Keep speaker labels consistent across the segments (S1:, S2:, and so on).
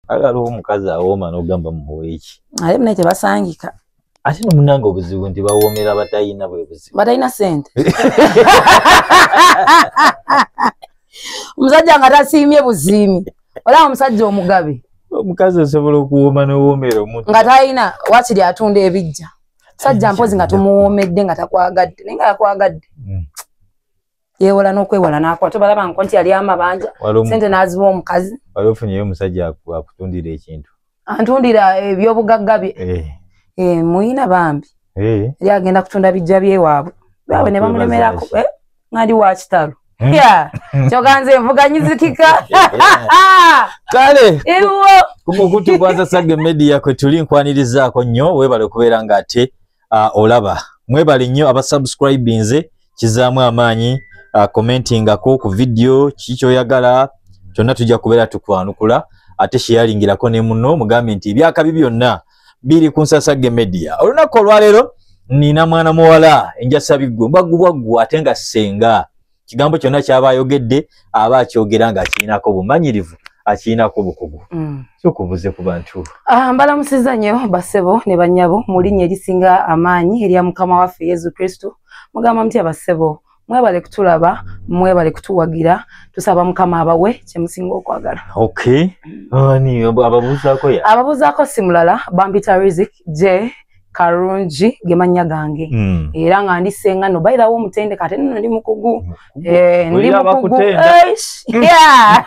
S1: Ala aliwo omukazi awooma n'ogamba muweeki. Ate munaye tebasangika.
S2: Ate no munange
S1: obuzibu nti bawoomera batayina bwe buzibu. Batayina sente.
S2: Omusajja nga tasiimye buziimi. Olaba omusajja omugabe. Omukazi osobola
S1: okuwooma n'owoomera omuntu. Nga tayina wakiri
S2: atunda ebijja. Sajja mpozi nga tumuwoomedde nga takwagadde. Naye nga yakwagadde. Mm. yewola n'okwewala n'akwata obalaba nko nti yali amabanja sente n'aziwa omukazi wali ofunyeyo omusajja
S1: akutundira ekintu antundira
S2: ebyobugagga bye eh. Eh, muyina bambi eh. yali agenda kutunda bijja byewaabwe baawe ne bamulemerako ngandi wa kitalo hmm. kyoganze envuganyizikika
S1: kale kukukutukwaza sage media kwetuli nkwanirizaako nnyo webale okubeera ng'ate uh, olaba mwebale nnyo abasubscribinze kizaamu amaanyi uh, commentingako ku vidiyo kiki kyoyagala kyonna tujja kubeera tukwanukula ate sheyalingirako ne muno mugambye nti ebyakabi byonna biri ku nsasagge media olunaku olwaleero nina mwana muwala enjasabiggwe mbwaggubwaggwa ate nga ssenga kigambo kyonna kyaba ayogedde aba akyogera nga akirinako bumanyirivu akirinako bukugu mm. sokubuze ku bantu ah, mbalamusiza nnyo
S2: basebo ne banyabo mu linnya erisinga amaanyi erya mukama waffe yesu kristo mugamba mutya basebo mwebale kutulaba mwebale kutuwagira tusaba mukama abawe kyemusinga okwagala ababuzaako simulala bampita rizik j karungi gemanya gange mm. era nga ndi senga no by the way mutende kate nno ndi mukugu mm. eh ndi mukugu eish mm. yeah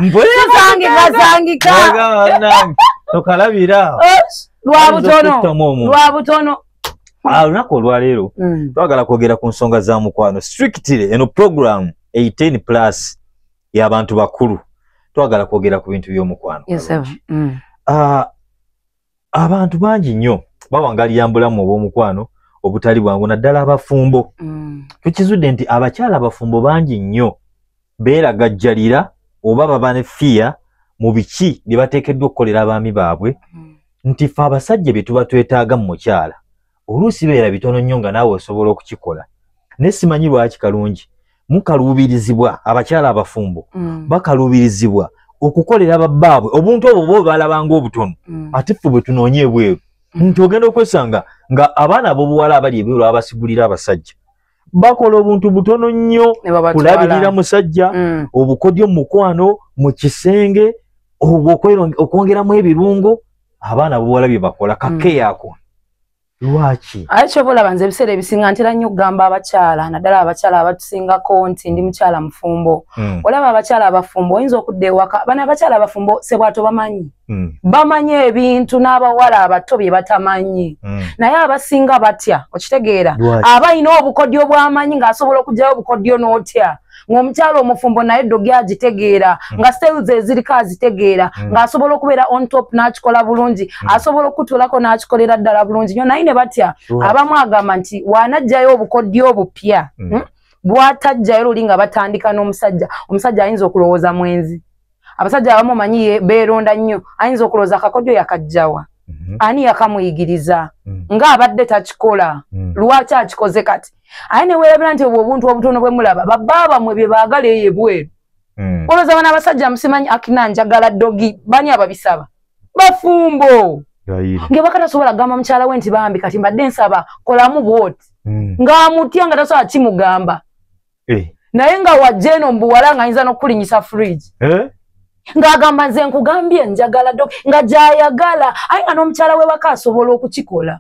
S2: mbwe zangi zangi ka tokalabira
S1: lwa butono lwa
S2: butono ah unako
S1: olwalero mm. twagala kwogera ku nsonga za mukwano strictly eno program 18 plus ya abantu bakulu twagala kwogera ku bintu byomukwano yes, mm. uh, abantu bangi nnyo bawangalira mbulamu obw'omukwano obutali bwangu naddala abafumbo mm. tukizudde nti abakyala abafumbo bangi nnyo beeragajjalira oba baba ne fiya mu biki bye bateekeddwa okukolera abaami baabwe mm. nti fe abasajja bye tuba twetaaga mu mukyala oluusi beera bitono nnyo nga naawe osobola okukikola naye simanyi lwaki kalungi mukaluubirizibwa abakyala abafumbo mm. bakaluubirizibwa okukolera babbaabwe obuntu obwo bo balabanga obutono mm. ate ffe bwe tunoonye ebweru mm. nti ogenda okwesanga nga abaana abobuwala abali ebweru abasigulira abasajja bakola obuntu butono nnyo kulabirira musajja mm. obukodyo mumukwano mu kisenge okwongeramu ebirungo abaana buwala bye bakola kakeyaako mm. lwaki aye kyoba olaba nze
S2: ebiseera ebisinga ntera nnyo okugamba abakyala naddala abakyala abatusingako nti ndi mukyala mufumbo mm. olaba abakyala abafumbo oyinza okudda ewaka bana abakyala abafumbo sebwatobamanyi mm. bamanyi ebintu n'abawala abato bye batamanyi mm. naye abasinga batya okitegeera aba alina obukodyo bw'amanyi ng'asobola okugyayo obukodyo n'otya ng'omukyalo omufumbo naye ddogi agitegeera mm. nga sales eziriko azitegeera mm. ng'asobola okubeera on top n'akikola bulungi mm. asobola okutulako n'akikolera ddala bulungi nyo naye ne batya abamu agamba nti waanajjayo obukodyo obupya mm. hmm? bwatajjayo luli nga batandika n'omusajja omusajja ayinza okulowooza mwenzi abasajja abamu omanyi beeronda nnyo ayinza okulowooza akakodyo yakajjawa mhm. ani yakamuyigiriza mm. nga abadde takikola mm. lwaki akikoze kati aye newerabira nti obwo obuntu obutono bwe mulaba babaabamwe bye baagala eyo ebweru mm. olowooza bana abasajja musimanyi akina njagala dogi bani ababisaba bafumbo nga bakatasobola kugamba mukyala we nti bambi kati mbadde nsaba kolamu bwoti ng'amutya nga tasobola kimugamba eh. naye nga wajja eno mbuwala nga ayinza n'okukulinyisa fridge eh? ng'agamba nze nkugambye njagala dok nga gyayagala aye nga n'omukyala wewaka asobola okukikola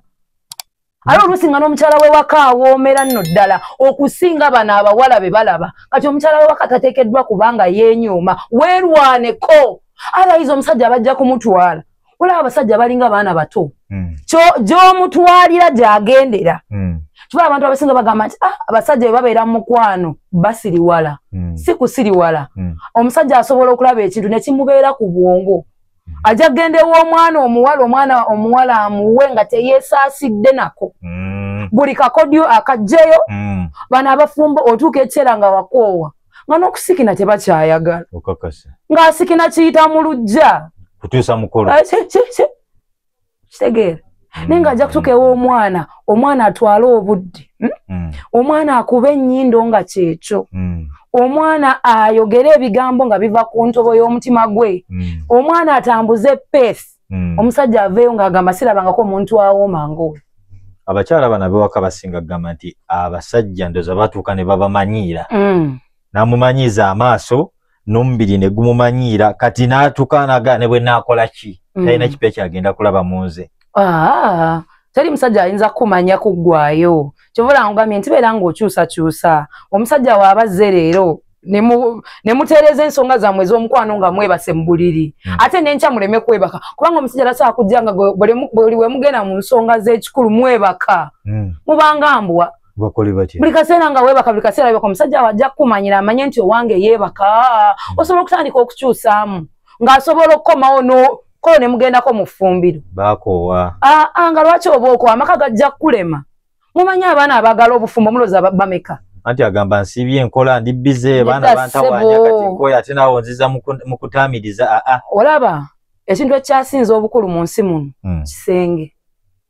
S2: aye oluusi nga n'omukyala wewaka awoomera nno ddala okusinga bano abawala be balaba kati omukyala wewaka tateekeddwa kubanga yeenyuuma weerwaneko alayiza omusajja abajja kumutwala olaba abasajja balinga baana bato hmm. gyomutwalira gyagendera hmm. kiba abantu abasinga bagamba nti ah, abasajja bwe babeera mu mukwano basiriwala hmm. si kusiriwala omusajja asobola okulaba ekintu nekimubeera ku bwongo ajja kugenda ew'omwana omuwala omwana omuwala amuwe nga teyesaasidde nako buli kakodyo akajjeyo bano abafumba otuuka ekiseera nga wakoowa nga n'okusikina tebakyayagala okakasa ng'asikina kiyita mu lujja kutuusa mukolo
S1: eh,
S2: kitegeera mm. naye ng'ajja kutuuka ew'omwana omwana atwale obudde hmm? mm. omwana akuba ennyindo nga kyekyo mm. omwana ayogere ebigambo nga biva ku ntobo y'omutima gwe omwana atambuze peesi mm. omusajja aveeyo ng'agamba sirabangako omuntu awooma ngaoyo abakyala bana
S1: bewaka basinga kugamba nti abasajja ndoza batuuka ne babamanyiira mm. namumanyiiza amaaso nomubiri ne gumumanyiira kati n'atuuka naga ne bwe naakola ki mm. talina mm. kipa ekyagenda kulaba mu nze ah.
S2: teri musajja ayinza kukumanya kuggwayo kyova olangugambye nti beera ng'okyusakyusa omusajja waaba zze leero nemutereeza ensonga zammwe ez'omukwano nga mwebase mu buliri hmm. ate nenkya muleme kwebaka kubanga omusajja tasobola kujja nga buli wemugenda mu nsonga z'ekikulu mwebaka hmm. mubanga mbwa buli kaseera nga webaka buli kaseera webaka omusajja awo ajja kukumanyira amanye nti owange yeebaka hmm. osobola okutandika okukyusaamu ng'asobola okukomawo kolo nemugendako mu ffumbiro bakoowa
S1: ah, ah, nga lwaki
S2: oba okoowa amaka gajja kukulema mumanyi abaana abagala obufumbo muloza bameka anti agamba nsiibye
S1: enkola ndi bize baana bantawanya kati nkoya ate naawe onziza mu kutaamiriza aa ah, ah. olaba
S2: ekintu ekyasinza obukulu mu nsi muno hmm. kisenge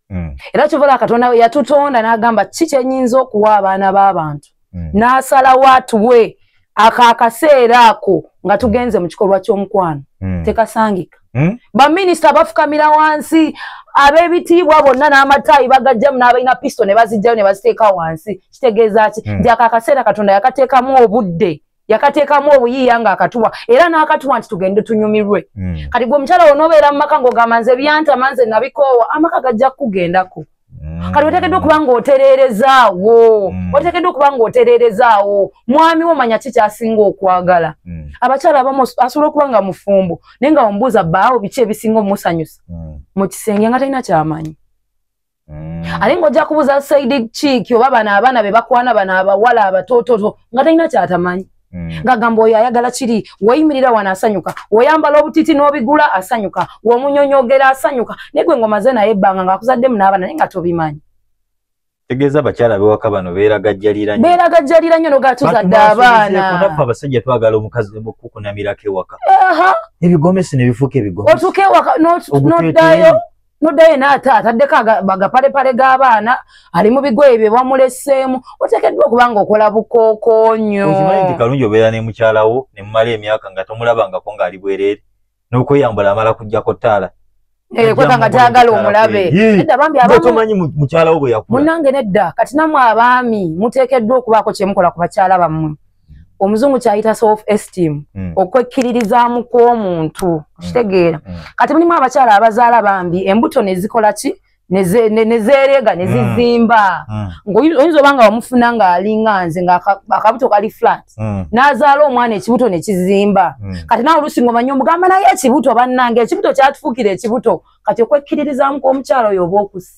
S2: hmm. era kyovala katonda yatutonda n'agamba ki kyenyinza okuwa abaana b'abantu mm. n'asalawo atuwe ako akaseera ako nga tugenze mu kikolwa ky'omukwano mm. tekasangika mm? baminisita bafukamira wansi ab'ebitiibwa bonna n'amataayi bagajjamu n'abalina pisito ne bazijjayo ne baziteeka wansi kitegeeza ki mm. nti ako akaseera katonda yakateekamu obudde yakateekamu obuyiiya ng'akatuwa era n'akatuwa nti tugende tunyumirwe mm. kati gwe omukyala wona obeera mu maka ng'ogamba nze byantama nze nabikoowa amaka gajja kukugendako mm. kati oteekeddwa okuba ng'otereerezaawo mm. oteekeddwa okuba ng'otereerezaawo mwami wo manya ki kyasinga okwagala mm. abakyala abamu asobola okuba nga mufumbo naye nga omubuuza baawo biki ebisinga omusanyusa mm. mu kisenge nga talina kyamanyi Mm. ate ngaojja kubuuza saidi kiiki oba bano abaana be bakwana bano abawala abatoototo nga talina kyatamanyi mm. ngagamba oyo ayagala kiri weyimirira wano asanyuka weyambala obutiti n'obigula asanyuka womunyonyogera asanyuka naye gwe ngomaze naye ebbanga ngaakuzaddemu n'abaana naye nga tobimanyi tegeeza
S1: abakyala bewaka bano beeragajjalira nyo beeragajjalira nyo
S2: nogatuzadde abaana naffe abasajja twagala
S1: omukazi okukunamirako ewaka ebigomesi nebifuuka ebigomesi otuka ewaka
S2: noddayo noddayo ena ate ataddeko agapalepale g'abaana ali mu bigoye bye bamuleseemu oteekeddwa okuba nga okola bukookonyo okimanyi nti kalungi
S1: obeera ne mukyalawo ne mumala emyaka nga tomulabangako ng'ali bwereere n'okweyambula amala kujjako ttaala eh, kweka nga
S2: tayagala omulabe nedda bambi abatomanyi mukyalawo
S1: bwe yakula munange nedda kati
S2: namwe abaami muteekeddwa okubaako kyemukola ku bakyala bammwe omuzungu kyayita self esteem mm. okwekkiririzaamu kw'omuntu mm. kitegeera mm. kati mulimu abakyala abazaala bambi embuto nezikola ki nezeerega nezizimba mm. mm. ngaoyinza oba nga wamufuna ng'alinga nze ngaakabuto kali flat mm. n'azaala omwana ekibuto ne kizimba mm. kati nawe olusi nga omanya omugamba naye ekibuto bannange ekibuto kyatufuukira ekibuto kati okwekkiririzaamu kw'omukyala oyo oba okusi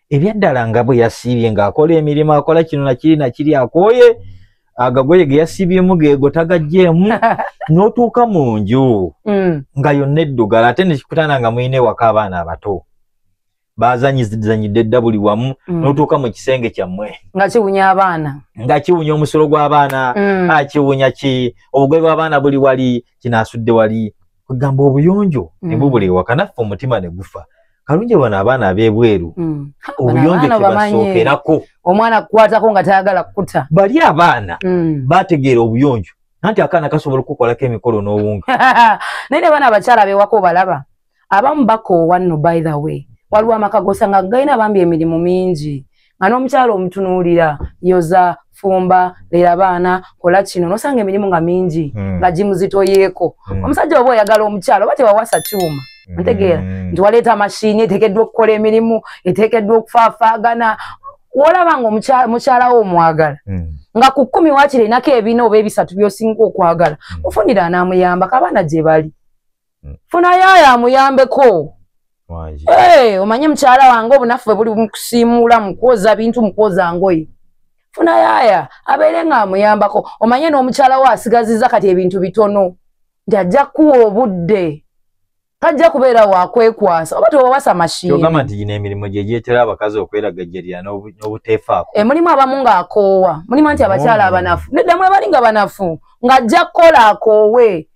S1: ebyaddala nga bwe yasiibye ng'akola emirimu akola kino nakiri nakiri akooye agagoye ge yasiibyemu geego tagaggyeemu n'otuuka mu nju mm. nga yonna eddugala ate nekikutana nga mulina ewaka abaana abato bazanyizanyidde dda buli wamu mm. n'otuuka mu kisenge kyammwe nga kiwunya abaana
S2: nga kiwunya omusolo
S1: gw'abaana mm. akiwunya ki obugoye bw'abaana buli wali kinaasudde wali kwegamba obuyonjo ne mm. bubula ewaka naffe omutima ne gufa kalungi bano abaana ab'ebweru mm. obuyonjo tebasookerako omwana kukwatako
S2: nga tayagala kukuta bali abaana
S1: mm. bategeera obuyonjo nanti akaana kasobola okukukolako emikolo n'owunga naye ne baana
S2: abakyala bewako obalaba abamu bakoowa nno by the way waliwo amaka gosanga galina bambi emirimu mingi nga n'omukyalo omutunuulira yoza fumba lera baana kola kino nosanga emirimu nga mingi hmm. nga gimuzitoyeeko hmm. omusajja oba oyagala omukyalo oba tewawasa kyuma hmm. ntegeera nti waleeta mashini eteekeddwa okukola emirimu eteekeddwa okufaafaagana wolaba nga omukyala wo omwagala hmm. nga ku kkumi wakiri enako ebina oba ebisatu byosinga okwagala mufunira hmm. anaamuyambako abaana gye bali hmm. funa yayo amuyambeko eh, omanye mukyala wange obunaffe buli mukusiimuula mukwoza bintu mukwoza ngoye funa yaya abeere nga amuyambako omanye n'omukyala wo asigaziza kati ebintu bitono nti ajja kuwa obudde tajja kubeera wakwekwasa oba tewawasa mashinyogamba nti gino emirimu gye
S1: gyetera abakazi okweragajjalira n'obuteefaako emulimu eh, abamu
S2: ng'akoowa mulimu nti abakyala abanafu neddamu abali nga banafu ng'ajja kukola akoowe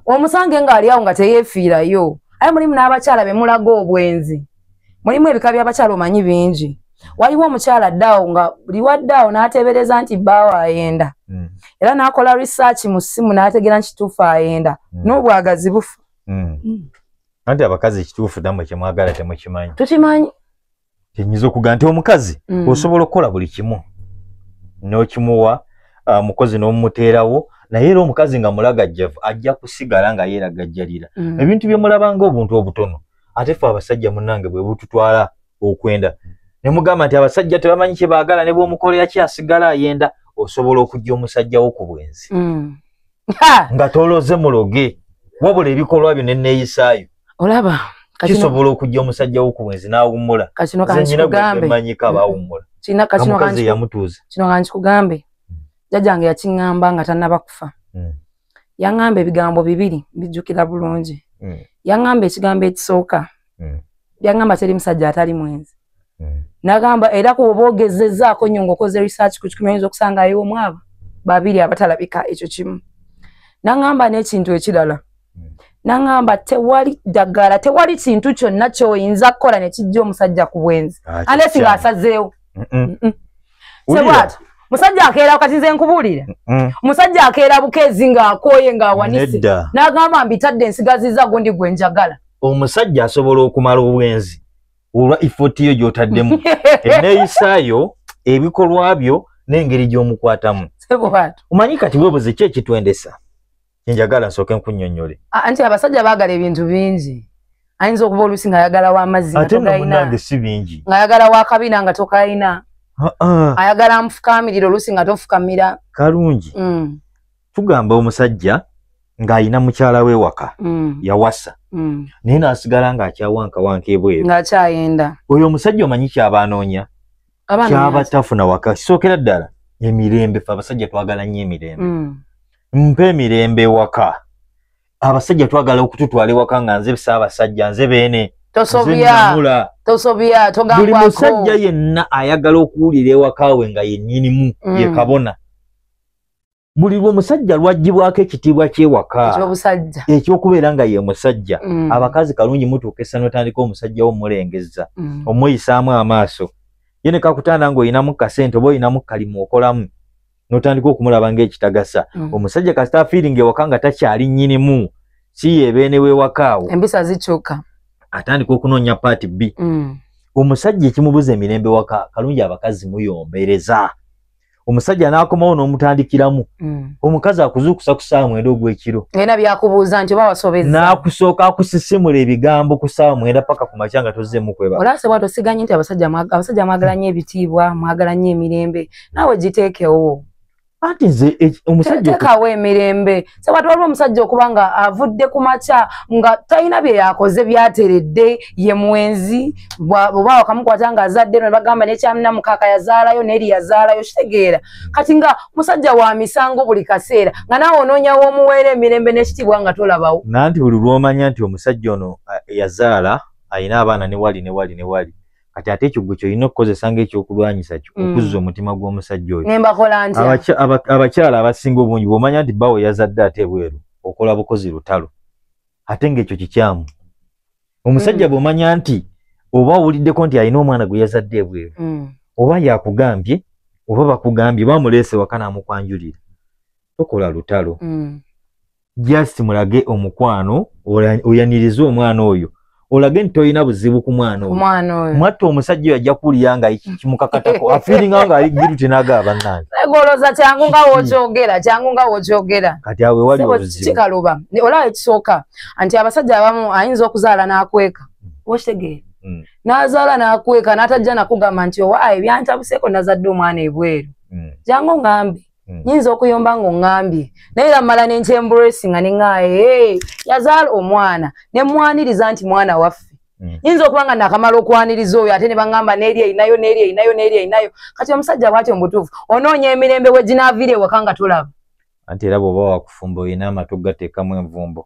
S2: omusange nga ali awo nga teyefiirayo aye mulimu n'abakyala be mulaga obwenzi mulimu ebika by'abakyala omanyi bingi waliwo omukyala addaawo nga buli waddaawo n'ateebereza nti bbaawo ayenda mm. era n'akola research mu ssimu n'ategeera nti kituufu ayenda mm. n'obwagazi bufa mm.
S1: mm. anti abakazi ekituufu damwe kyemwagala temukimanyi tukimanyi
S2: kyenyinza
S1: okuga nti omukazi mm. osobola okukola buli kimu nokimuwa uh, mukozi nomumuteerawo naye era omukazi nga mulagajjavu ajja kusigala nga yeera gajjalira mm. ebintu byemulabanga obuntu obutono ate fe abasajja munange bwebututwala okwenda nemugamba nti abasajja tebamanyi kyebaagala nebwomukolera kyasigala ayenda osobola okujja omusajjawo ku bwenzi mm. nga toloze muloge wabula ebikolwa byo neneeyisaayo olaba
S2: kisobola okujja
S1: omusajja wo ku bwenzi n'awummula zenyinamanyika
S2: abawummula
S1: kamukazi
S2: yamutuuza kino nga
S1: nkikugambe
S2: hmm. jjajja nge yakiŋŋamba nga tannaba kufa hmm. yaŋŋamba ebigambo bibiri mbijjukira bulungi hmm. yaŋŋamba ekigambo ekisooka yaŋŋamba teri musajja atali mwenzi hmm. nagamba era ku oba ogezezaako nyo ngaokoze research ku kikumayinza okusanga ayiwo mwaba babiri abatalabika ekyo kimu nagamba n'ekintu ekirala hmm. nagamba tewali ddagala tewali kintu kyonna kyoyinza kukola nekijja omusajja ku bwenzi ah, anesi ngaasazeewo sebwata musajja akeera wakati nze nkubuulire musajja akeera bukeezi ng'akooye ng'awanise n'agamba mbitadde ensigaziza gundi gwe njagala omusajja asobola
S1: okumala obwenzi olwa effort yo gy'otaddemu enneeyisa yo ebikolwa byo n'engeri gy'omukwatamu omanyi
S2: kati weebuze ki
S1: ekitwendesa enjagala nsooke nkunnyonnyole anti abasajja baagala
S2: ebintu bingi ayinza okuba oluusi ng'ayagala w'amazzi ate no munange si bingi
S1: ng'ayagala w'akabina nga
S2: tokalina ayagala nfukaamirira oluusi nga tofukamira kalungi mm.
S1: tugamba omusajja ng'alina mukyala we waka mm. yawasa mm. naye n'asigala ng'akyawankawanka ebweru ng'akyayenda oyo
S2: omusajja omanyi
S1: kyaba anoonya kyaba tafuna waka kisookera ddala emirembe fe abasajja twagala nnyo emirembe mm. mpa emirembe ewaka abasajja twagala okututwala ewaka nga nze bisaabasajja nze beene tosobya tosobya
S2: togambwako buli musajja
S1: yenna ayagala okuwulira ewakaawe nga yennyinimu mm. ye kabona buli lwomusajja lwajjibwako ekitiibwa kyewaka ekyokubeera nga ye musajja mm. abakazi kalungi mutuuka essano tandika omusajja wo mulengeza mm. omuyisaamu amaaso ye nekakutanda nga olinamu kasente oba olinamu kalimu okolamu notandika okumulaba ngaekitagasa mm. omusajja kasita afiiringa ewaka nga takyali nyinimu si yebeene wewakaawo embisa zikyuka
S2: atandika okunoonya
S1: paati bbi mm. omusajja ekimubuza emirembe waka kalungi abakazi muyombereza omusajja n'akomawo n'omutandikiramu mm. omukazi akuzuukusa ku saawa mwenda ogw'ekiro era byakubuuza
S2: nti oba wasobeza n'akusooka
S1: akusisimula ebigambo ku saawa mwenda paka ku makya nga tozzeemu kweba olase bwato siganyi nti
S2: abasajja abasajja mwagala nnyo ebitiibwa mwagala nnyo emirembe naawe giteekewo anti nze
S1: e, omusajja tekawo emirembe
S2: sewati waliwo omusajja okuba nga avudde ku makya nga talina bye yakoze byateredde ye mwenzi oba wakamukwata nga azadde no nebagamba nekyamina mukaka yazaalayo neeri yazaalayo kitegeera kati nga musajja wa misango buli kaseera nga naawe onoonyawo omuweera emirembe n'ekitiibwa nga tolabawo nanti buli lwomanya
S1: nti omusajja ono yazaala alina abaana newali newali newali kati ate ekyo gwe kyolina okukozesa ngaekyokulwanyisa kyo mm. okuzza omutima gw'omusajja oyo
S2: abakyala abasinga
S1: obungi bwomanya nti bawo yazadde ate ebweru okola bukozi lutalo ate ngaekyo kikyamu omusajja mm. bwomanya nti oba owuliddeko nti alina omwana gwe yazadde ebweru mm. oba yakugambye oba bakugambye bamuleese wakana amukwanjulira tokola lutalo just mulage omukwano oyanirize omwana oyo olage nti tolina buzibu ku mwana oyo mwatta omusajja oyo ajja kuwulira nga kimukakatako afiiringa nga ali giru tinaga abannange egoloza kyangu nga
S2: wokyogera kyangu nga wokyogera kati awe wali
S1: obuzibukikaluba olaba
S2: ekisooka nti abasajja abamu ayinza okuzaala n'akweka hmm. wakitegeera hmm. n'azaala n'akweka n'atajja nakugamba nti owa ebyantabuseeko nazadde omwana ebweru hmm. jangu ngambe Hmm. nyinza okuyomba ng'oŋŋambye naye era mmala nenkyemburesinga neŋaaye yazaala omwana ne mmwaniriza nti mwana waffe hmm. nyinza okuba nga nakamala okwaniriza oyo ate ne baŋŋamba n'eri erinayo n'eri erinayo n'eri erinayo kati omusajja bwatyo mubutuufu onoonya emirembe we ginaaviira ewaka nga tulaba anti
S1: era bw'oba wakufumba olina amatu gateekamu envumbo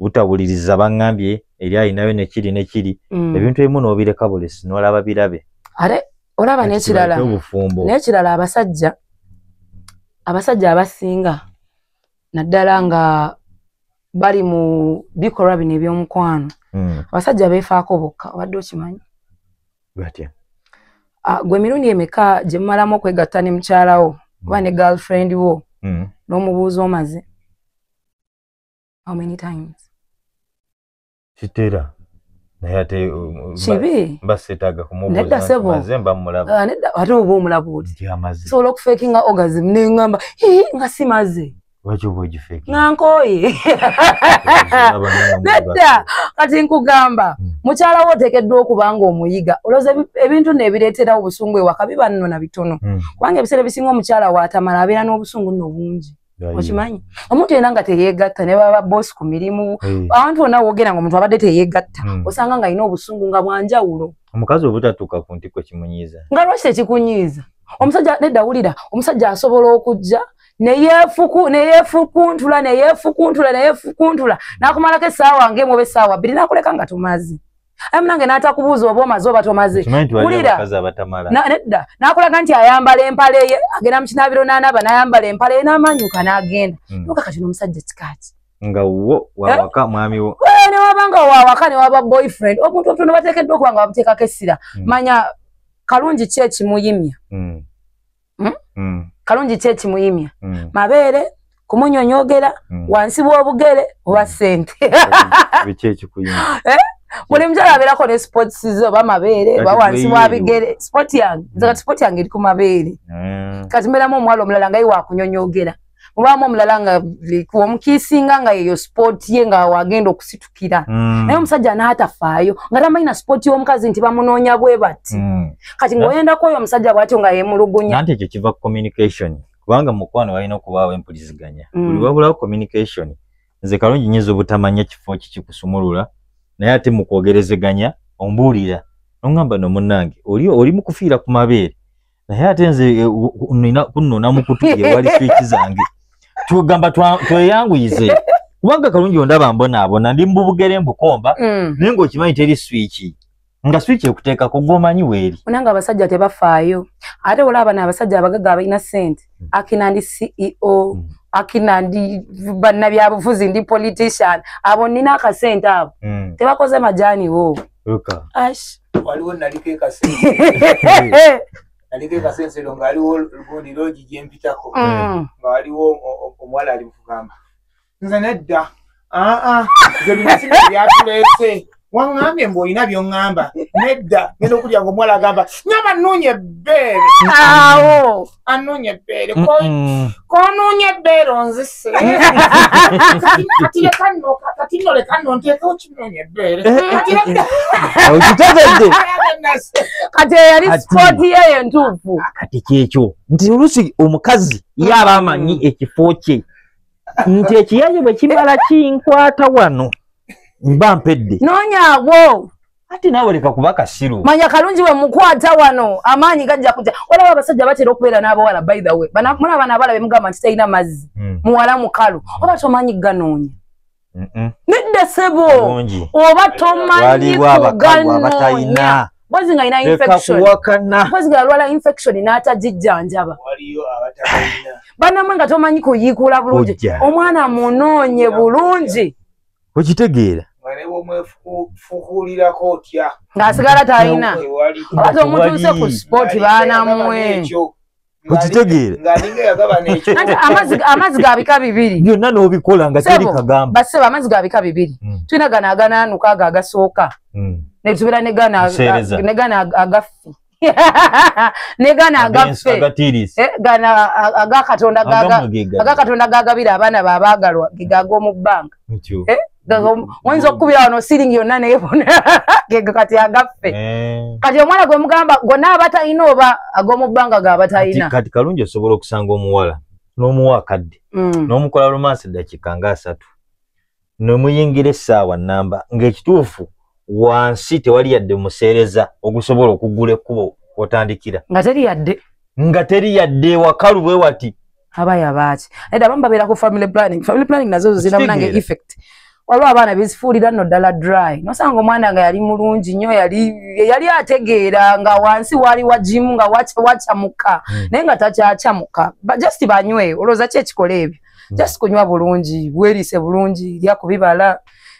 S1: butawuliriza bangambye eri alinayo nekiri nekiri mm. ebintu ebimu nobireka bulesi nolaba birabe are olaba
S2: nekirala obufumbo nekirala abasajja abasajja abasinga naddala nga bali mu bikolwa bino ebyomukwano mm. abasajja befaako bokka obadde okimanyi batya
S1: ah,
S2: gwe emirundi emeka gyemumalamu okwegatta ne mukyalawo oba mm. ne girlfriend wo mm. n'omubuuza omaze how many times kitera
S1: naye ate uh, kibi mba
S2: sitaaga
S1: kumubuuza mba mmulaba ah, nedda ate oba omulaba
S2: oti sobola okufeekinga orgasm ne ŋŋamba nga si maze lwaki oba ogifeeki
S1: nga nkooye
S2: nedda kati nkugamba hmm. mukyala wo oteekeddwa okuba nga omuyiga olowooza ebintu neebireeterawo obusungu ewaka biba nno na bitono hmm. kubanga ebiseera ebisinga omukyala waatamala abeera n'obusungu nno bungi okimanyi omuntu yena nga teyegatta ne baba bosi ku mirimu eh. abantu bona wogera nga omuntu abadde teyegatta hmm. osanga nga alina obusungu nga bwanjawulo omukazi obutatuuka
S1: ku ntiko kimunyiiza nga lwaki tekikunyiiza
S2: omusajja nedda wulira omusajja asobola okujja neyefukuntula neyefukuntula neyefukuntula nakumalako esaawa ngaemu oba esaawa bbiri nakuleka nga tumazi aye munange n'atakubuuza oba omaze oba tomaze wulira nedda n'akulaga nti ayambala empale ye agenda mu kinaabiro n'anaaba n'ayambala empale ye n'amanyuka n'agenda hmm. noka kati n'omusajja kikaaki nga wo
S1: wawaka eh? mwami wo eh, newaba nga wawaka
S2: newaba boyfriend omuntu omutono bateekeddwa okuba nga bamuteekako essira hmm. manya kalungi ki ekimuyimya hmm. hmm? mm. kalungi ki ekimuyimya mm. mabeere kumunyonyogera mm. wansi w'obugere oba hmm. sente biki
S1: ekikuyimya eh? buli mukyala
S2: abeerako ne sports ze oba mabeere oba wansi wa bigere sport yange nze kati sport yange eri ku mabeere eh. kati mbeeramu omuwala omulala nga ye wakunyonyogera obaamu omulala nga omukiisinga nga yeyo sipooti ye nga wagenda okusitukira mm. naye omusajja anaatafaayo nga tamanyi na sipooti y'omukazi nti bamunoonya bwe bati mm. kati ngaoyendako oyo omusajja bwatyo nga yemulugunya anti ekyo kiva ku
S1: communication kubanga mukwano walina okubaawo empuliziganya mm. buli wabulawo communication nze kalungi nyinza obutamanya kifo kikikusumulula naye ate mukwogerezeganya ombuulira nongamba no munange oli oli mukufiira ku mabeere naye ate nze eh, u- u- nina kunona mukutu ewali swiki zange tugamba twa- tweyanguyize kubanga kalungi ondaba mbonaabona ndi mubugere mbukomba Mm. naye ngaokimanyi teri swiki nga swiki ekuteekako gwomanyi weeri Unanga abasajja
S2: tebafaayo ate olaba na abasajja abagaga abalina sente akina ndi ceo mm. akina ndi bannabyabufuzi ndi politician abo nina akasente abo mm. tebakoze majani wo
S3: waliwo naliko ekasente naliko ekasente lo ngaaliwo gundi logi gyempitako mm. nga waliwo omuwala ali mukugamba nze nedda aa nze bino sina byatuleese waŋŋambye mbu olina byoŋŋamba nedda ngenda okulya nga omuwala agamba nyama nuunya ebbeere awo
S2: anuunya ebbeere
S3: konuunya ebbeere onzise kati leka nno kati nno leka nno
S1: nteekewo kinuunya ebbeere okitegedde kati
S2: eyali sipooti yeyo entuufu kati kyekyo
S1: nti oluusi omukazi ye aba amanyi ekifo kye nti ekiyaye bwe kimala kinkwata wano mba mpedde noonya agwo
S2: ati nawe leka
S1: kuba kasiru manya kalungi we
S2: mukwata wano amaanyi gajja kuja olaba abasajja batera okubeera n'abawala by the way mulaba naabala bemugamba nti talina mazzi hmm. muwala mukalu oba tomanyi ganoonya nedda sebo oba tomanyi kuganoonya mpozi nga alina infectionwakana mpozi nga alwala infection n'atagijjanjaba banamwe nga tomanyi kuyiikuula bulungi omwana munoonye bulungi okitegeera
S3: fukulirako otya ng'asigala talina
S2: oba tomutuuse ku sport baanamwe
S1: okitegeera
S2: amazzi ga bika bibiri byonna n'obikola nga
S1: teri kagamba basebo amazzi ga bika
S2: bibiri hmm. tulina gano aganaanuka ago agasooka hmm. netubeera ne gano agaffi ne gano agaffe eh, gano agakatonda gagabira abaana babaagalwa gegag'omu bbanga oyinza okukubira wano siringi yonna neyebona gego kati agaffe eh. kati omwana gwe mugamba gonna abatalina oba ag'omubbanga ga abatalina kati kalungi osobola
S1: okusanga omuwala n'omuwa akadde mm. n'omukola romansi eddakiika nga asatu nemuyingira essaawa namba ng'ekituufu wansi tewali yadde museereza ogusobola okugula ekkubo otandikira
S2: nga teri
S1: yadde nga
S2: teri yadde
S1: wakalu bwe
S2: wati aba yabaaki eda abamu babeera ku family planning family planning nazo zo zirina munange effect waliwo abaana bezifuulira nno ddala dry nosanga omwana nga yali mulungi nnyo yali yali ategeera nga wansi waali wagimu nga wacamuka hmm. naye nga takyacamuka just banyweyo olowooza ki ekikola ebyo hmm. just kunywa bulungi bweriise bulungi lya ku bibala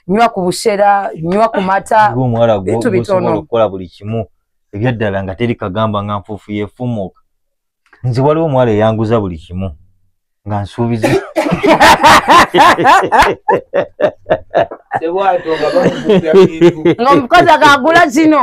S2: nywa ku bushera nywa ku mata bintu bitono okukola buli kimu
S1: ebyaddala nga teri kagamba nga nfuufu yefumuuka nze waliwo omuwala eyanguza buli kimu nga nsuubiza
S2: nga omukazi akagula kino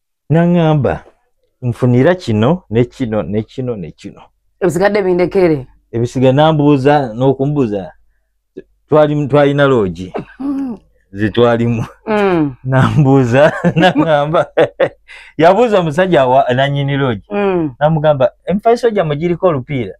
S1: naŋamba nfunira kino ne kino ne kino ne kino ebisigadde bindekere
S2: ebisiga nambuuza
S1: n'okumbuuza twali twalina loogi mm. zetwalimu mm. nambuuza naŋamba yabuuza omusajja nanyini loogi mm. namugamba emifaliso gyammwe giriko olupiira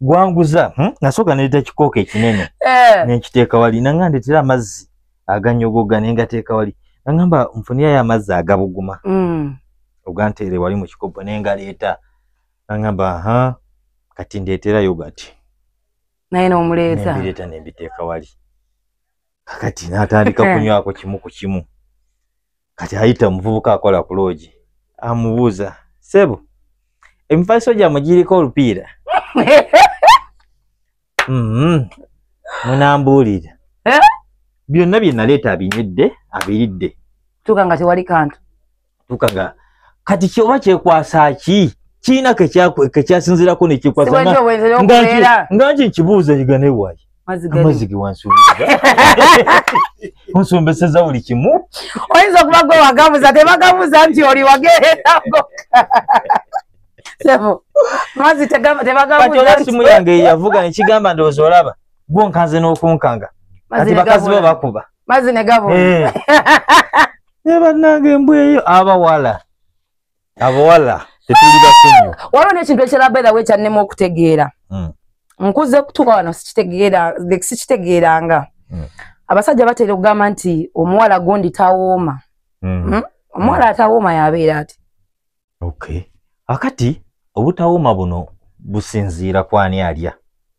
S1: gwanguza hmm? nasooka naleeta kikooko ekinene eh. nenkiteeka wali nanga ndeetera amazzi aganyogoga naye ngateeka wali nangamba nfuniyayo amazzi agabuguma mm. oganteere wali mu kikopo naye ngaleeta nangamba ha kati ndeetera yogati naye
S2: nomuleeta nembireeta nembiteeka
S1: wali kakati natandika kunywako kimu ku kimu kati ayita omuvubuka akola ku loogi amubuuza sebo emifaliso gyammwe giriko olupiira mm-hmm. munambuulira eh? byonna bye naleeta abinywedde abiridde tuuka nga tewali
S2: kantu tuuka nga
S1: kati kyoba kyekwasa ki kiina kekyasinzirako nekyekwasa nga nki nkibuuza yiganewaye amazzi ge wansuubiza onsombeseza buli kimu oyinza okuba gwe
S2: wagabuza tebagabuza nti oli wageererago sebo mazzi tebagabuzaesimu yange yavuga
S1: nekigamba ndowooza olaba gwonkanze n'okunkanga kati bakazi bo bakuba mazzi negabula eh. naye bannange embweyo abawala abawala tetuli basonyiwa ah, waliwo nekintu ekirala
S2: by the way kyannema okutegeera hmm. nkuze kutuuka wano sikitegeera sikitegeeranga hmm. abasajja batera okugamba nti omuwala gundi tawooma hmm. omuwala atawooma yabeera ati okay akati
S1: obutawooma buno businziira kwani alya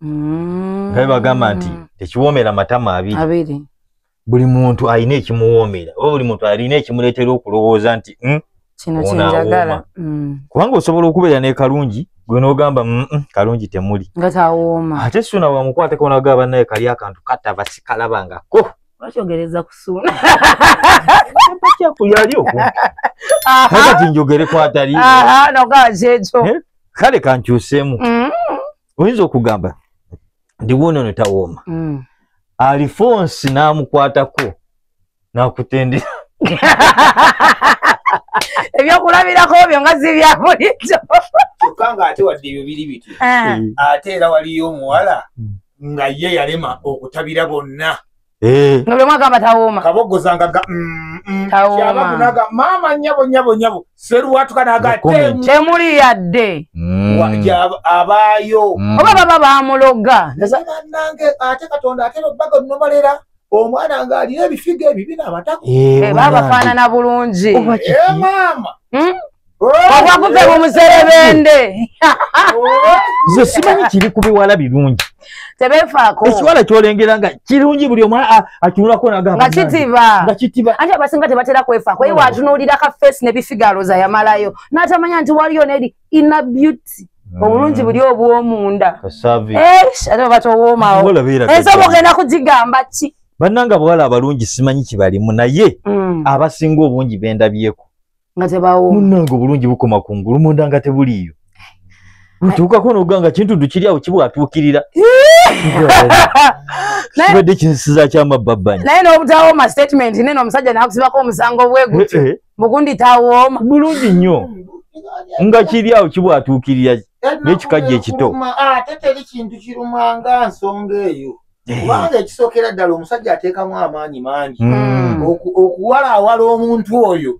S1: nga bebagamba nti tekiwoomera matama abiri buli muntu alina ekimuwoomera oba buli muntu alina ekimuleetera okulowooza nti hmm, kino
S2: kyenjagala hmm. kubanga
S1: osobola okubeera nekalungi gwe nogamba mm, mm, kalungi temuli nga tawooma
S2: ate suuna wamukwateko
S1: naga banaye kali akantu katava sikalabangako bakyogereza
S2: kusuuna kyakulyali
S1: okwo kakati njogere kwatali nogaa
S2: kyekyo eh? kale kankyuseemu
S1: mm. oyinza okugamba ndi wuuno ne tawooma mm. alifonsi n'amukwatako n'akutendera
S2: ebyokulabirako byo nga zibya bulijjo kyokka ng'ate
S3: wadde ebyo biri bityo eh. ate era waliyo omuwala nga ye yalema okutabira bonna Eh. nga buli
S2: mwaka aba tawooma kabogozangaga mm,
S3: mm. tawoomanaga maama nyabo nyabo nyabo seruwatuka naga temuli
S2: yadde mm. abaayo
S3: oba baba
S2: bamuloga nange
S3: ate katonda ate babaga nomalera omwana nga alina ebifiga ebibina abatako eh, eh, babafaanana
S2: bulungi maama
S3: hmm?
S2: obwakuve mu muserebende
S1: nze simanyi kiri ku biwala birungi tebefaako
S2: ekiwala kyolengera
S1: nga kirungi buli omu atunulako nagamba nga
S2: kitiba ate abasinga tebatera kwefaako ye watunuulira ka face ne bifigalo za yamalayo n'atamanya nti waliyo neri ina beauty mm. obulungi buli obwomunda ate obatowoomawo ensoba ogenda kugigamba ki bannanga
S1: bawala abalungi simanyi kibalimu naye mm. abasinga obungi bendabyeko nga tebawo
S2: munange obulungi bukoma
S1: ku ngulu munda nga tebuliiyo ntuukako noganga kintuddu kiri awo kibwatuukirira kibadde kinsiza kyamabbabbanyi naye nobutawooma
S2: statement nene omusajja nakusibako omusango bwegutyo eh, eh. mugundi tawooma bulungi nnyo
S1: nga kiri awo kibwatuukirira nekikajja ekito ah, ate teri
S3: kintu kirumanga nsonga eyo Eh. kubanga ekisookera ddala omusajja ateekamu amaanyi mangi Mm. oku- okuwalaawala omuntu oyo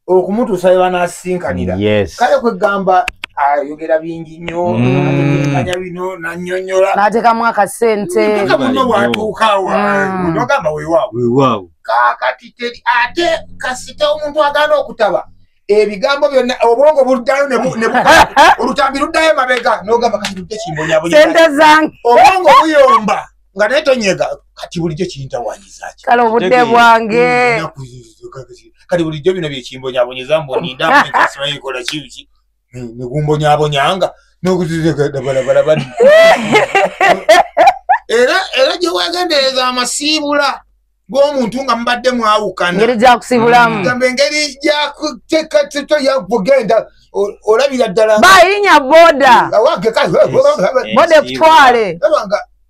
S3: okumutuusa we banasisinkanira Yes. kale kwegamba ayogera bingi nnyo Mm. anya bino nanyonyola n'ateekamu akasente
S2: Mpaka muno bwatuukawa
S3: Mm. nogamba weewaawo Weewaawo. kakati teri ate kasita omuntu agana okutaba ebigambo byonna obwongo buddayo olutambi luddayo mabega nogamba kati lujja kimbonyabonyesente zange
S2: obwongo buyomba
S3: nga naye tonyega kati bulijjo kiyintawanyizaki kale obudde
S2: bwange
S3: kati bulijjo bino byekimbonyabonyeza mbonindakola kiki negumbonyabonyanga nokuzizegadabalabalabani era era gyewegendereza amasiibula gwomuntu nga mubadde mwawukanaengeri gyakusibulamu
S2: mm. gamba engeri
S3: gyakutekateka yakugenda olabira ddala bayinya boda
S2: boda ekutwale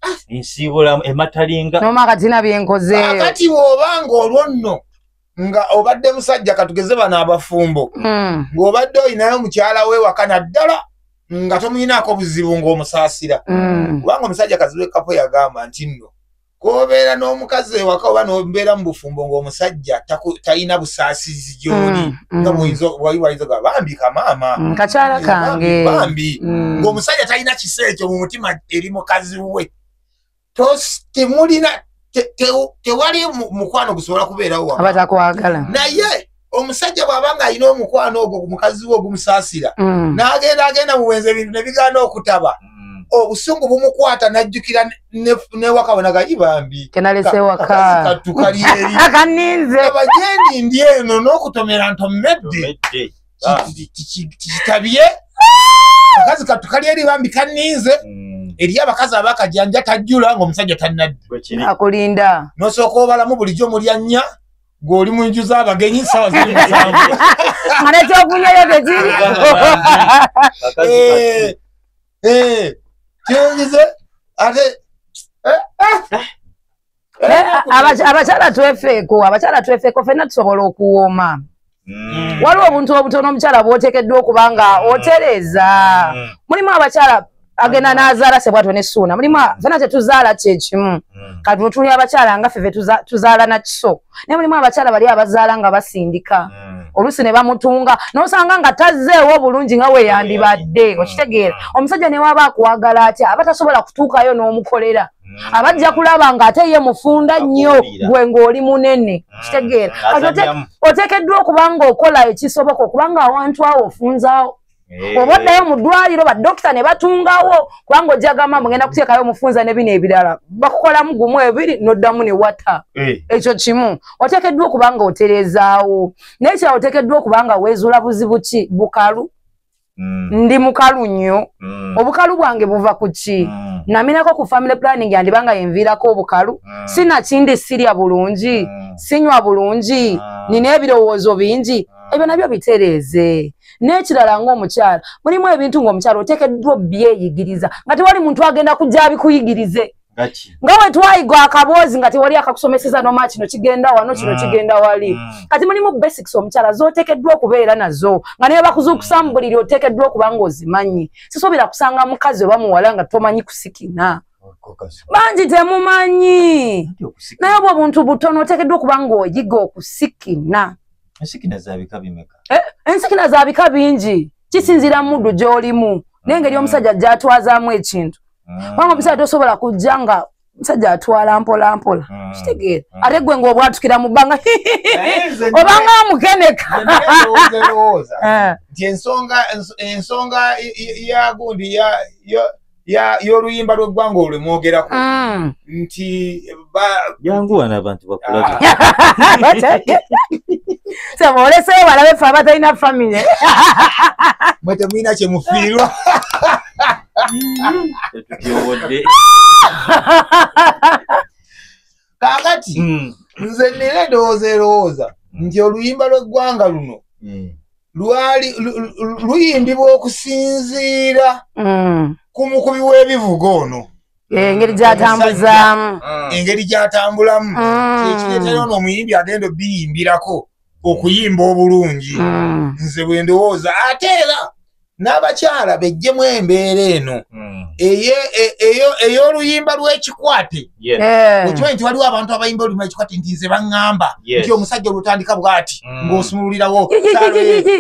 S2: ah.
S1: nsibulamu ematalinga noma katina
S2: byenkozeakati woba
S3: nga olwo nno nga obadde musajja katugeze bano abafumbo mm. ng'obadde olinayo mukyala wewaka naddala nga tomuyinaako buzibu ng'omusaasira mm. kubanga omusajja kazibu ekapo yagamba nti nno kobeera n'omukazi ewaka oba nobeera mu bufumbo ngaomusajja talina busaasizi gyoli mm, mm. nga bwaiwaizoga bambi kamaama mm, kakyala kange
S2: bambi
S3: ngaomusajja talina kisa ekyo mu mutima eri mukazi we temulina tewali mukwano gusobola kubeerawo wabatakwagala
S2: naye
S3: omusajja bwaba nga alina omukwano ogwo ku mukazi we ogumusaasira mm. n'agenda agenda mu bwenzi ebintu ne bigaana okutaba mm. obusungu bumukwata n'ajjukira newaka bonaga i bambi
S2: kenalesewakatukalyeeriabajendi ndi
S3: eno n'okutomera ntomedde ah. tikitabye akazi katukali eri bambi kaninze mm. eri abakazi abakajanja tajjula ng'omusajja tannadde akulinda
S2: nosooka obalamu
S3: bulijjo mulya nnya gwe oli mu nju z'abagenyi sawa ziri musanvu nga
S2: nekyokunyayo tekiri eh,
S3: eh, kyenyize ate
S2: eh, abakyala twefeeko abakyala twefeeko fenna tusobola okuwooma mm. waliwo obuntu obutono omukyala bwotekeddwa okuba nga mm. otereeza mm. mulimu abakyala agenda nazaala sebwatwe ne suuna mulimu fena tetuzaala kyekimu hmm. kati wetuli abakyala nga ffe tuzaala nakiso naye mulimu abakyala bali abazaala nga basindika hmm. oluusi ne bamutunga nosanga nga tazzeewo bulungi nga weyandibadde hmm. okitegeera omusajja newaba akuwagala atya aba tasobola kutuukayo n'omukolera abajja kulaba nga ate ye mufunda nnyo gwe ngaoli munene kitegeera otekeddwa okubanga okola ekisoboka okubanga awantu awo ofunzaawo Eh. oba oddayo mu ddwaliro badokita ne batungawo kubanga ojja gamba mugenda kuteekayo omufunza ne bino ebirala bakukolamu gumu ebiri n'oddamu ne wata eh. ekyo kimu oteekeddwa okuba nga otereezaawo naye kira oteekeddwa okuba nga weezuula buzibu ki bukalu mm. ndi mukalu nnyo mm. obukalu bwange buva ku ki mm. naminako ku family planning yandiba nga yenviirako obukalu sinakindi sirya bulungi sinywa bulungi nina ebirowoozo bingi ebyo nabyo bitereeze n'ekirala ng'omukyala mulimu ebintu ng'omukyala oteekeddwa obyeyigiriza nga tewali muntu agenda kujja abikuyigirize nga wetwayiga akaboozi nga tewali akakusomeseza noma kino kigenda wano kino mm. kigenda wali mm. kati mulimu basics omukyala zotekeddwa okubeera nazo nga naye bakuzuukusa mu buliri otekeddwa okuba nga ozimanyi sisobera kusanga mukazi oba muwala nga tomanyi kusikina bangi temumanyi naye obwo obuntu butono otekeddwa okuba nga oyiga okusikina ensikina
S1: zabika bimeka eh, ensikina zabika
S2: bingi kisinzira mudu gyolimu nengeri mm. omusajja gyatwazamu ekintu mm. kubanga omusajja tosobola kujja nga omusajja atwala mpolampola mm. kitegeera ate gwe ngaobwatukira mu bbanga obanga amukeneka
S3: eh. ensonga yagundi y'oluyimba lw'eggwanga olwe mwogerako mm. nti
S1: janguwana abantu bakulaolesee
S2: balabe fe abatalina famire
S3: mwe temulina kyemufiirwa kakati mm. nze nina endowooza erowooza mm. nti oluyimba lweggwanga luno mm. lwali luyimbibwa okusinziira ku mukubi w'ebivuga ono engeri
S2: gyatambuzaamu engeri
S3: gyatambulamu kyekireetera ono omuyimbi agenda obiyimbirako okuyimba obulungi mm. nze bwendowooza ate era n'abakyala bejjemu embeera eno mm. e, ey'oluyimba lw'ekikwate eh. okimanyi nti waliwo abantu abayimba oluyimba lwekikwate nti nze baŋŋamba nti omusajja olutandika bw'ati mm. ng'osumululirawo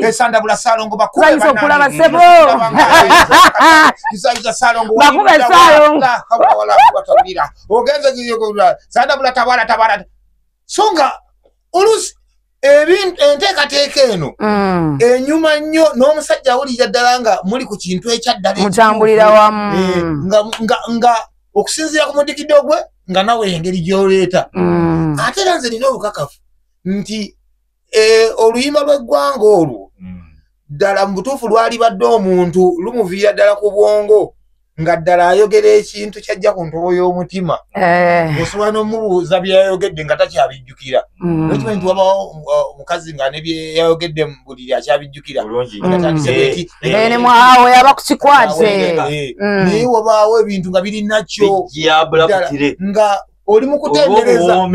S3: esandabula eh, saalongo bakubaokulaba sebo isayuza saalongo ogenze sandabula tabala tabala so nga olusi enteekateeka eno mm. enyuma nnyo n'omusajja awulirira ddala nga muli ku kintu ekyaddalamukyambulira wamu
S2: eh, nga
S3: okusinziira ku mudikido gwe nga nawe engeri gyoleeta mm. ate era nze nina obukakafu nti eh, oluyimba lw'eggwanga olwo hmm. ddala mu butuufu lwalibadde omuntu lumuviira ddala ku bwongo nga ddala ayogera ekintu kyajja ku ntobo y'omutima eh. osobola n'omubuuza byeyayogedde nga takyabijjukira hmm. nokimanyi nti wabawo uh, omukazi nga ne byeyayogedde mu buliri akyabijjukira
S2: ne mwawo yaba kukikwate hmm. naye
S3: wabaawo ebintu nga biri nakyo nga oli mukutendereza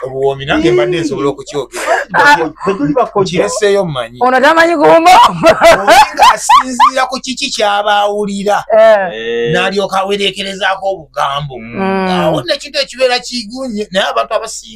S3: obuwoomi nange mbadde nsobola okukyogekireseeyo mumanyi ono tamanyi
S2: kumboolinga
S3: asinziira ku kiki kyaba awulira eh. eh. nalyoka awereekerezaako obugambo mm. awo nekintu ekibeera kigunye naye abantu abasi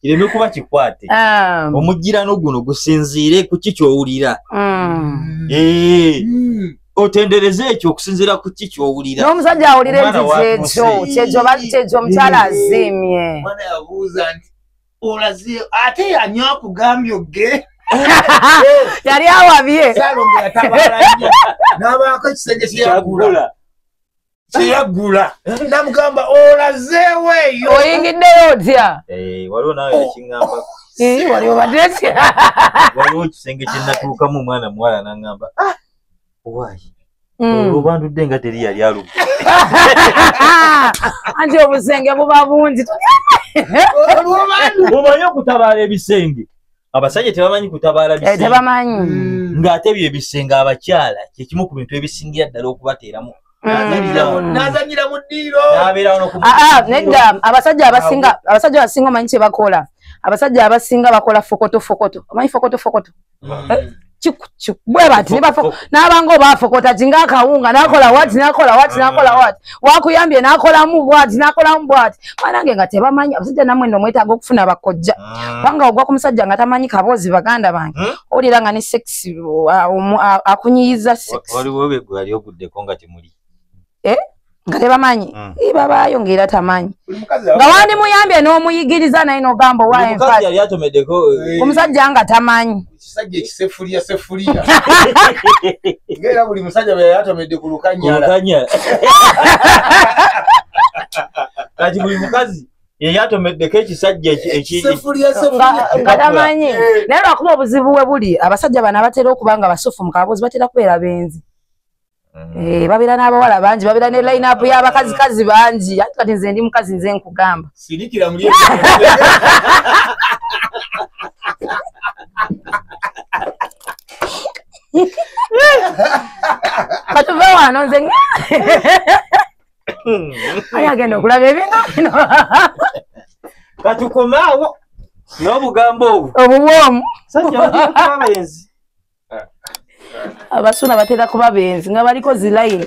S1: kireme kuba kikwate Ah, omujjirano guno gusinziire ku ki kyowulira mm. Eh, Mm. otendereze ekyo okusinziira ku ki kyowulira n'omusajja awulira Omwana
S2: enjiji wa ekyo Musi. kyekyo ba- kyekyo omukyala aziimye Mwana yabuuza
S3: nti olaze ate yanyo akugambye ogge
S2: yali awabye salongo
S3: yatabaala nnyo n'abaako ekisenge kyeyagula kyagula kyeyaggula namugamba olazeewo eyo oyingiddeyo otya
S2: eh, waliwo nawe oh.
S1: ekingamba eh, waliwo
S2: badetya waliwo
S1: ekisenge kyenatuukamu omwana muwala nangamba ah, wayi Mm. olubandudde nga teri yali alubba
S2: anti obusenge buba bungi
S1: omanye okutabaala ebisenge abasajja tebamanyi kutabaala eh, tebamanyi mm.
S2: ng'ate byo
S1: ebisenga abakyala kyekimu ku bintu ebisingira ddala okubateeramu mm. nazanyira mu ddiiro ah, ah,
S2: nedda abasajja abasinga abasajja abasinga omanyi kye bakola abasajja abasinga bakola fokoto fokoto omanyi fokoto fokoto mm. eh, bwebati nabanga obafokota ti ngaakawunga nakola wati nakola wati nakola wati wakuyambye nakolamu bwati nakolamu bwati banange nga tebamanyi abasajja namwe no mwetaaga okufuna bakojja ah. kubanga ogwa ku musajja nga tamanyi kaboozi baganda bange hmm? owulira nga ne sex uh, um, uh, akunyiyiza sex waliwo begwe yali
S1: oguddeko nga temuli eh?
S2: nga tebamanyi mm. ibabaayo ngaera tamanyi nga wandimuyambye n'omuyigiriza naye nogamba owaomusajja eh. nga tamanyi
S3: kati
S1: buli mukazi yeyatomeddeko ekisajja ekitamanyi
S2: eh. naye lwakuba obuzibu we buli abasajja bano abatera okuba nga basufu mukaboozi batera kubeera benzi Mm. Eh, babira n'abawala bangi babira ne line up y'abakazikazi bangi ati kati nze ndi mukazi nze nkugamba sirikira muli katuve wano nze ayi agenda okulaba ebintu bino
S1: katukomaawo n'obugambo obwo obubwomu
S2: sajja abagenzi abasuna batera kuba benzi nga baliko zilayini